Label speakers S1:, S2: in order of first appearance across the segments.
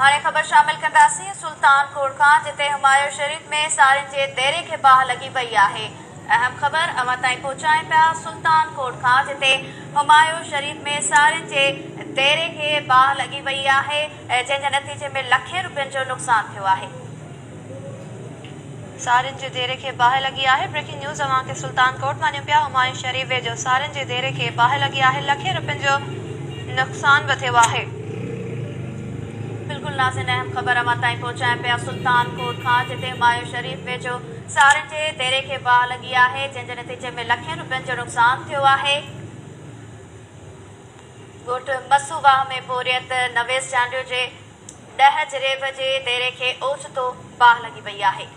S1: هاڻي خبر شامل ڪنداسين سلطان ڪوڙ کان جتي همايو شريف ۾ سارين جي ديري کي باهه لڳي پئي آهي اهم خبر اوهان تائين پهچائين پيا سلطان ڪوڙ کان جتي همايو شريف ۾ سارين جي ديري کي باهه لڳي وئي آهي جنهن جي نتيجي ۾ لکين روپين جو نقصان ٿيو آهي. سارين جي ديري کي باهه لڳي آهي بريڪنگ نيوز اوهان کي سلطان ڪوٽ مان ڏيون پيا همايون شريف ويجهو سارين جي ديري کي باهه لڳي آهي لکين روپين جو نقصان به ٿيو آهي. بلڪل نازين اهم خبر اوهان تائين پهچايون پيا سلطان ڪوٽ کان جتي همايون شريف ويجهو سارين جي ديري کي باهه لڳي آهي جنهن جي نتيجي ۾ لکين روپين جو نقصان ٿيو آهي ڳوٺ مسو واهه ۾ پورهيت نويس جانڊيو جي ڏهه جريب جي ديري کي اوچتو باهه لڳي پئي آهي.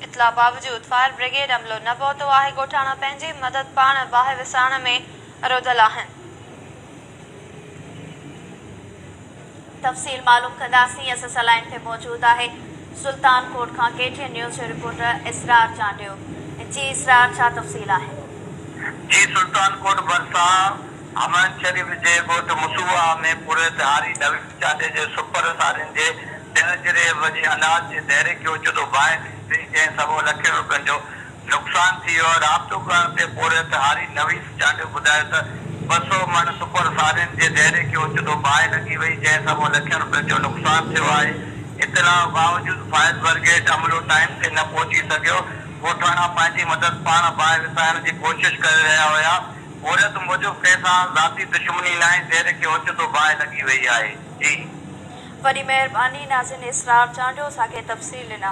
S1: اطلاع باوجود فائر بريگيڊ عملو نه پهتو آهي، ڳوٺاڻا پنهنجي مدد پاڻ باهه وسائڻ ۾ روڌل آهن. تفصيل معلوم ڪنداسين اسان سان لائين تي موجود آهي سلطان ڪوٽ کان ڪي ٽي اين نيوز جو رپورٽر اسرار چانڊيو جي اسرار ڇا تفصيل آهن. جي
S2: سلطان ڪوٽ ڀرسان حمائن شريف جي ڳوٺ مسوعا ۾ پورهيت هاري نويد چانڊيو جي سپر سارين جي ڏهه جريب جي اناج جي دهريڪي اوچتو باهه ٿي پئي جنهن سبب لکين روپين جو نقصان ٿي ويو آهي، رابطو ڪرڻ تي پورهيت هاري نويس چانڊيو ٻڌايو ته ٻه سؤ مڻ سپر سارين جي ديري کي اوچتو باهه لڳي وئي، جنهن سبب لکين رپين جو نقصان ٿيو آهي، اطلاع باوجود فائر برگيڊ عملو ٽائيم تي نه پهچي سگهيو، ڳوٺاڻا پنهنجي مدد پاڻ باهه وسائڻ جي ڪوشش ڪري رهيا هيا، پورهيت موجب ڪنهن سان ذاتي دشمني ناهي، ديري کي اوچتو باهه لڳي وئي آهي. جي.
S1: وڏي
S2: مهرباني
S1: ناظرين اسرار چانڊيو اسان کي
S2: تفصيل
S1: ڏنا.